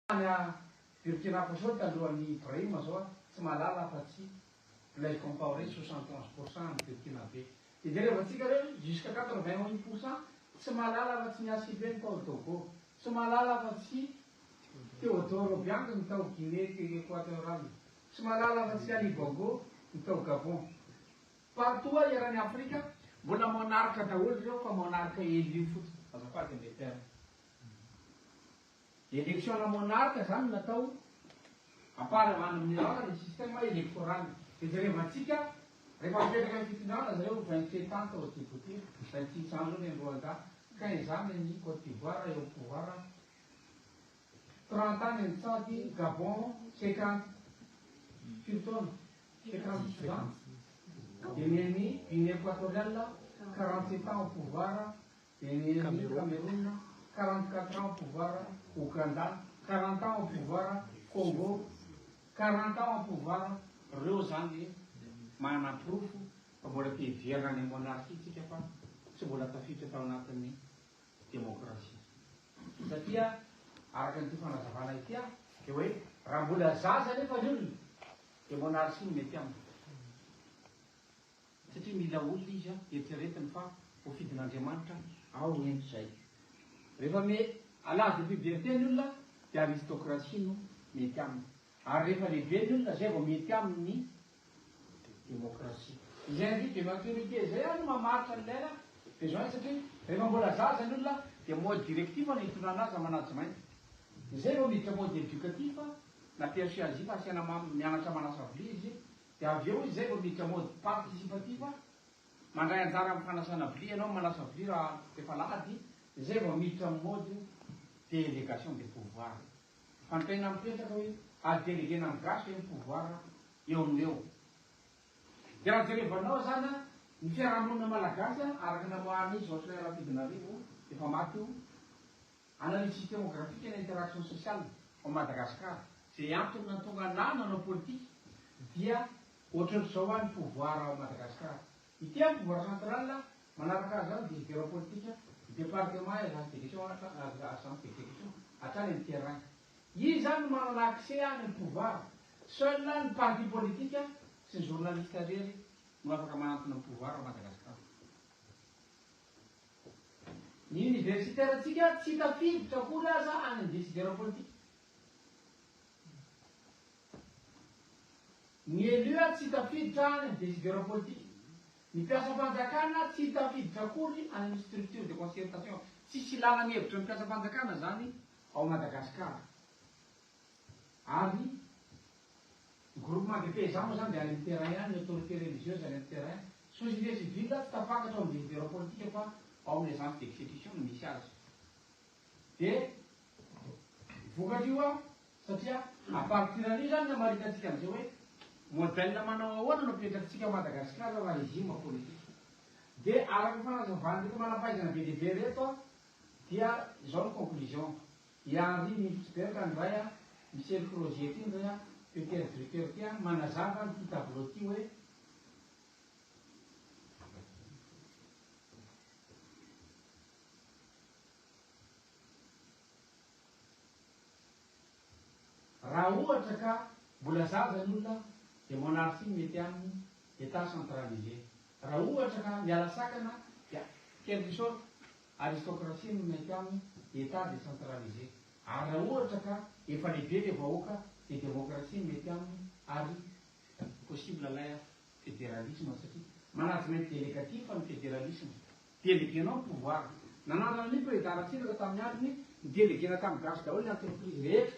Any a Burkina Faso tandroa an'i Ibrahim zao a, tsy mahalala afa tsy Blaise Compaoré soixante onze pour cent any Burkinabe. Dia jereo antsika re jusqu'à quatre vingt un pour cent tsy mahalala afa tsy ny ACP-ny tao Togo, tsy mahalala afa tsy Theodore Obiang-ny tao Guinée Equateurale, tsy mahalala afa tsy Ali Bongo, ny tao Gabon. Partout a eran'i Afrika, mbola monarque daholo ireo fa monarque élu fotsiny, azafady ny terme. Election-na monarque izany no atao, à part à any amin'ny ora ny système electoral. Dia jereva antsika, rehefa mipetraka ny fitondrana zareo ny vingt sept ans tao Djibouti, vingt six ans indray any Rwanda, quinze ans any Cote d'Ivoire eo amin'ny pouvoir, trente ans any Tchad, Gabon, cinquante, firy taona? Cinquante Soudan, dia ny an'i Guinée Equatoriale, quarante sept ans au pouvoir, Cameroun, quarante quatre ans au pouvoir, Ouganda, quarante ans au pouvoir, Congo, quarante ans au pouvoir, reo zany manaporofo fa mbola te hiverina any monarchie tsika fa tsy mbola tafiditra tao anatin'ny demokrasia. Satria araka an'ity fanazavana ity a, dia hoe raha mbola zaza nefa ny olona dia monarchie no mety aminy. Satria mila olona izy an, eritreretiny fa ho fidin'Andriamanitra ao ento izay. Rehefa me alà de puberté ny olona de aristocratie no mety aminy. Ary rehefa lehibe ny olona zay vao mety aminy ny démocratie. Izay andidy de maturité izay ary no mamaritra ny lela besoin satria rehefa mbola zaza ny olona dia mode directif no itondrana azy na management. Izay vao miditra mode éducatif na persuasif asiana mianatra manasa vilia izy Dia avy eo izy izay vao miditra mode participatif a! Mandray anjara amin'ny fanasana vilia ianao, manasa vilia raha efa alahady, dia izay vao miditra amin'ny mode délégation de pouvoir. Fanontaniana mipetraka hoe a-deleguena amin'ny gasy ve ny pouvoir eo amin'ny eo? Dia raha jerevanao izany a, ny fiarahamonina malagasy a, araka ny namoahan'i Jocelyn Rafidinarivo, efa maty io, Analyse Demographique and Interaction Sociale ao Madagascar. Izay antony nahatonga anà nanao politika dia ohatran'izao any pouvoir ao Madagascar. Ity any pouvoir central manaraka azy any dia hevero politika ny département et agence d'élection agence d'élection hatrany amin'ny terrain. Iza zany no manana accès any amin'ny pouvoir? Seul ny parti politika sy ny journaliste irery no afaka manantona ny pouvoir ao Madagascar. Ny oniversiterantsika tsy tafiditra akory aza any amin'ny desidera politika. Ny elus tsy tafiditra any amin'ny desidera politika. Ny mpiasam-panjakana tsy tafiditra akory any amin'ny structure de concertation. Tsisy ilàna ny hevitra ny mpiasam-panjakana izany ao Madagasikara. Ary groupement de paysans moa zany dia any am terrain any, ny autorité religieuse any am terrain. Sosin'ilay civil tsy tafakatra ao amin'ny leader politique fa ao amin'ny agence d'execution no misy azy. Dia vokatr'io an, satria à partir an'io zany no hamaritantsika an'izay hoe modèle manao ahoana no apetrakintsika ao Madagascar raha régime politique. Dia araka ny fanazavan'ireo manam-pahaizana be dia be ireto an, dia izao ny conclusion. Dia ry Milky Berka ndray a, misery projet ty ndray a, Peter Drucker ty a, manazava an ty tableau ty hoe, raha ohatra ka mbola zaza ny olona dia monarchie no mety aminy, Etat centralisé. Raha ohatra ka miala sakana dia, quelque sorte, Aristocratie no mety aminy, Etat décentralisé. Ary raha ohatra ka efa lehibe ilay vahoaka dia démocratie no mety aminy ary possible ilay fédéralisme satria management délégatif ny fédéralisme. Déléguer-nao ny pouvoir. Nanandrana an'io président Ratsiraka tamin'ny aliny, ni-déléguer-na tamin'ny gasy daholo ny entreprise rehetra.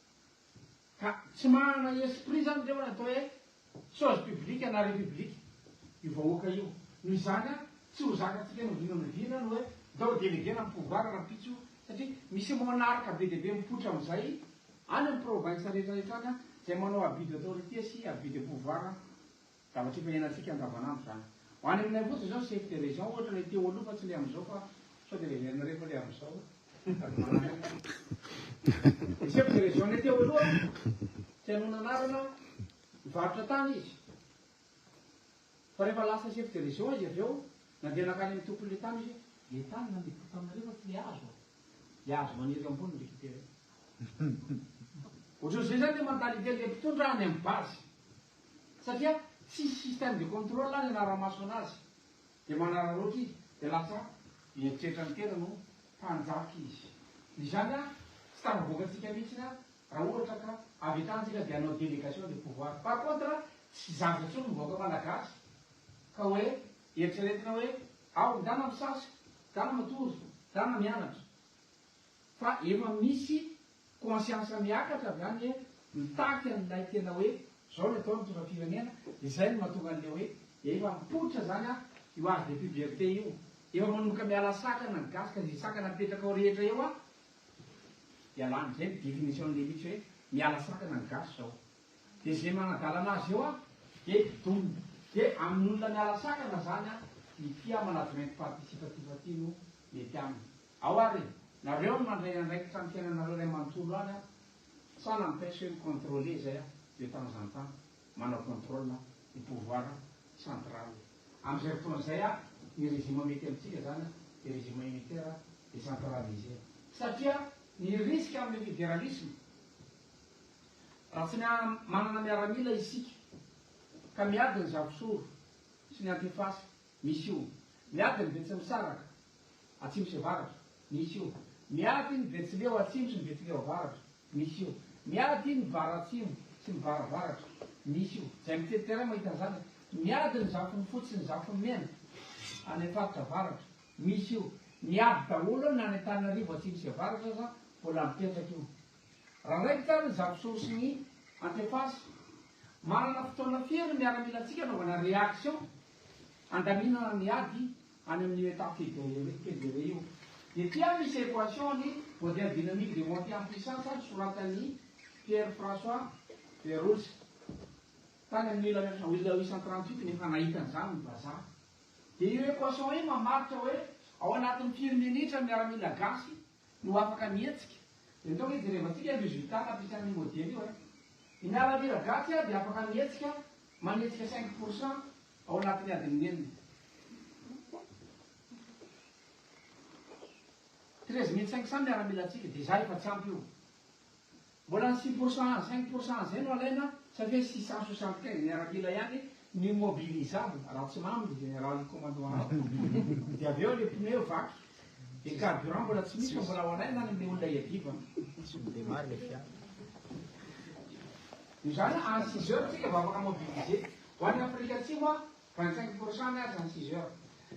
Ka tsy manana esprit zany reo atao hoe chose publique na republique io vahoaka io. Noho izany an, tsy ho zakatsika noviana noviana ny hoe ndao delegena ny pouvoir rampitso satria misy monarque be dia be mipoitra amizay any am province rehetra rehetra any zay manao abus d'autorité sy abus de pouvoir Zavatra efa iainantsika andavanandro izany. Ho any aminay fotsiny izao chef de région ohatra ilay teo aloha fa tsy ilay amin'izao fa sao dia heverinao rehefa ilay amin'izao sady manana ny. Ny chef de région-nay teo aloha tsy hanoana anarana mivarotra tany izy fa rehefa lasa chef de région izy avy eo nandeha nankany amin'ny tompon'ilay tany hoe ilay tany nandeko taminareo fa tsy ilay hazo an! Ilay hazo maniry eo ambony no récupérer. Ohatran'izay izany ilay mentalité-n'ilay mpitondra any amin'ny base. Satria tsisy système de contrôle any anaramaso anazy de manararaotra izy de lasa mieritreritra ny tenany ho mpanjaka izy izany a tsy tafavoakatsika mihitsy a raha ohatra ka avy akany tsika de hanao délégation de pouvoir par contre tsy zava tsony ny vahoaka malagasy ka hoe eritreretina hoe ao ndana misasa dana matory dana mianatra Fa efa misy conscience miakatra avy any eh, mitaky an'ilay tena hoe zao ny atao mitondra firenena, dia zay no mahatonga an'ilay hoe efa mipoitra zany an io age de puberté io, efa manomboka miala sakana ny gasy ka ze sakana apetraka ao rehetra eo an dia lany, zay ny definition an'ilay mitsy hoe miala sakana ny gasy zao, dia ze manadalana azy eo an dia domina, dia amin'olona miala sakana zany an ity amanagement participatif ty no mety aminy. Ao ary, nareo no mandray andraikitra amin'ny fiainanareo iray manontolo any an! Sa n'empêche hoe mi-contrôler izay an, de temps en temps, manao contrôle an, ny pouvoir central. Amin'izay fotoana izay an, ny régime mety amintsika izany an, dia régime unitaire décentralisé. Satria ny risque amin'ny fédéralisme, raha tsy manana miaramila isika, ka miady ny Zafisoro sy ny Antifasy, misy io, miady ny Betsimisaraka, Atsimo sy Avaratra, misy io. Miady ny Betsileo Atsimo sy ny Betsileo Avaratra, misy io. Miady ny Vara-Atsimo sy ny Vara-Avaratra, misy io. Izay mitety terrain mahita an'izany hoe miady ny Zafin'ny Fotsy sy ny Zafin'ny Mena any faritra Avaratra, misy io. Miady daholo na any Antananarivo Atsimo sy Avaratra aza mbola mipetraka io. Raha raikitra ary ny Zafisory sy ny Antefasy. Manana fotoana firy ny miaramilantsika anaovana réaction handaminana ny ady any amin' io état figure io hoe figure io dia tia misy équation ny modèle dynamique de montée en puissance nosoratan' i Pierre François Verolles tany amin' ny mille neuf cent huit cent trente huit no efa nahita an' izany ny vazaha dia io équation io mamaritra hoe ao anatin' ny firy minitra ny miaramila gasy no afaka mihetsika. Dia nitaoka izy jereva tsika ny résultat nampiasany io modely io eh. I Miaramila Iragatsy ah dia afaka mihetsika manetsika cinq pour cent ao anatin'ny adin'ny enina. Treize mille cinq cent miaramila tsika dia zah efa tsy ampy io. Mbola ny six pour cent, cinq pour cent izay no alaina satria six cent soixante quinze miaramila ihany no mobilisable raha tsy mamy ny général commandant azy. Dia avy eo ilay pneu vaky, dia carburant mbola tsy misy fa mbola ho alaina any amin'ilay olona iadivany. Tsy mi-demarre ilay fiara. Noho izany any six heures tsika vao afaka mobiliser. Ho an'i Afrika Atsimo an, vingt cinq pour cent miasa any six heures.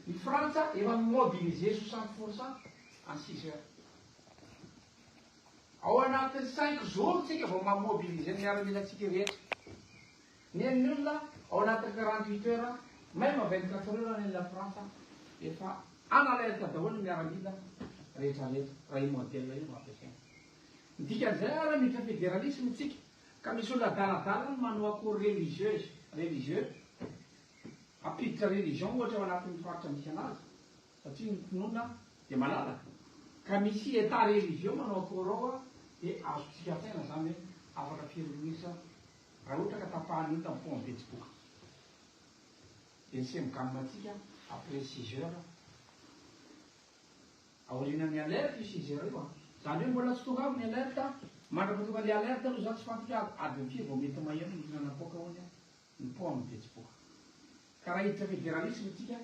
Ny Frantsa efa mi-mobiliser soixante pour cent any six heures. Ao anatin'ny cinq jours tsika vao ma mobiliser ny miaramila tsika rehetra. Nen'ny olona ao anatin'ny quarante huit heures même vingt quatre heures nen'i la France efa en alerte daholo ny miaramila rehetra rehetra raha io modèle io no ampiasaina. Ny dikan'izay ary miditra fédéralisme tsika ka misy olona adaladala ny manao akory religieuse, religieux, hampiditra religion ohatra ao anatin'ny faritra misy anazy. satria ny finoana dia malalaka ka misy état religieux manao akory ao a, dia azontsika antsaina izany hoe afaka firy minitra raha ohatra ka tapahan'ny ota mifoha ny betsiboka dia ny semgam antsika après six heures aorianan'ny alerte io six heures io a, izany hoe mbola tsy tonga ao ny alerte a, mandrapatonga ilay alerte aloha za tsy fantatra adiny firy vao mety maheno ny hihinana coca hono a, ny poa amin'ny betsipoka. Ka raha hiditra federalisme tsika,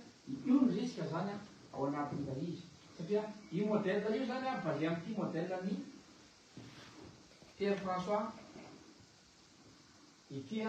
io ny risque zany ao anatin'ilay izy. Satria io modèle io zany basé amin'ity modèle an'i Pierre François ity.